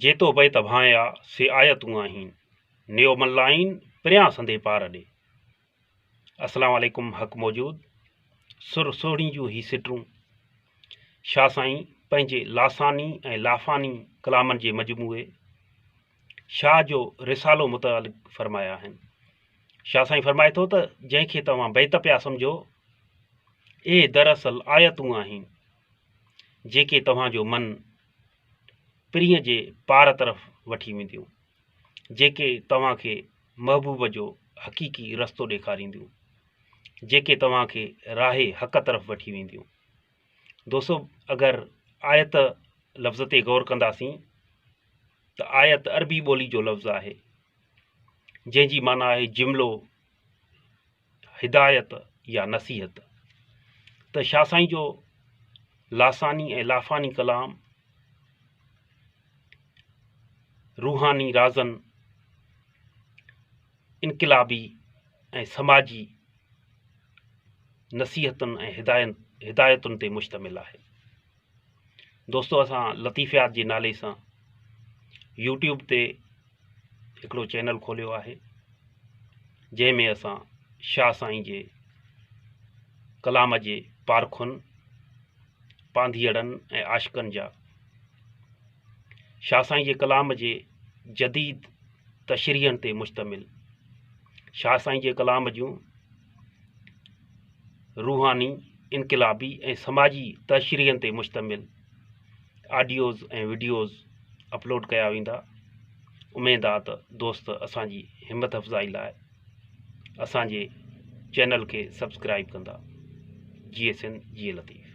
جيتو بيت ڀانئيا سي آيتون آهين نيو ملائين پريان سندي پار ڏي. السلام عليڪم حق موجود سر سهڻي جون هي سٽون شاهه سائين پنهنجي لاساني ۽ لافاني ڪلامن جي مجموعي شاهه جو رسالو متعلق فرمايا آهن شاهه سائين فرمائي ٿو ته جنهن کي توهان بيت پيا سمجهو اهي دراصل آيتون آهن جيڪي توهان جو من پرينء جي پار طرف وٺي وينديون، جيڪي توهان کي محبوب جو حقيقي رستو ڏيکارينديون، جيڪي توهان کي راهه حق طرف وٺي وينديون. دوستو اگر آيت لفظ تي غور ڪنداسين ته آيت عربي ٻولي جو لفظ آهي جنهن جي معنيٰ آهي جملو، هدايت يا نصيحت ته شاهه سائين جو لاثاني ۽ لافاني ڪلام روحاني رازن انقلابي ۽ سماجي نصيحتن ۽ هدايتن تي مشتمل آهي دوستو اسان لطيفيات جي نالي سان يوٽيوب تي هڪڙو چينل کوليو آهي جنهن ۾ اسان شاهه سائين جي ڪلام جي پارکن پانڌيئڙن ۽ عاشقن جا شاهه سائين جي ڪلام جي جديد تشريحن تي مشتمل شاهه سائين جي ڪلام جون روحاني، انقلابي ۽ سماجي تشريحن تي مشتمل آڊيوز ۽ وڊيوز اپلوڊ ڪيا ويندا اميد آ ته دوست اسان جي همت افزائي لاء اسان جي چينل کي سبسڪرائب ڪندا جي S N G E Latif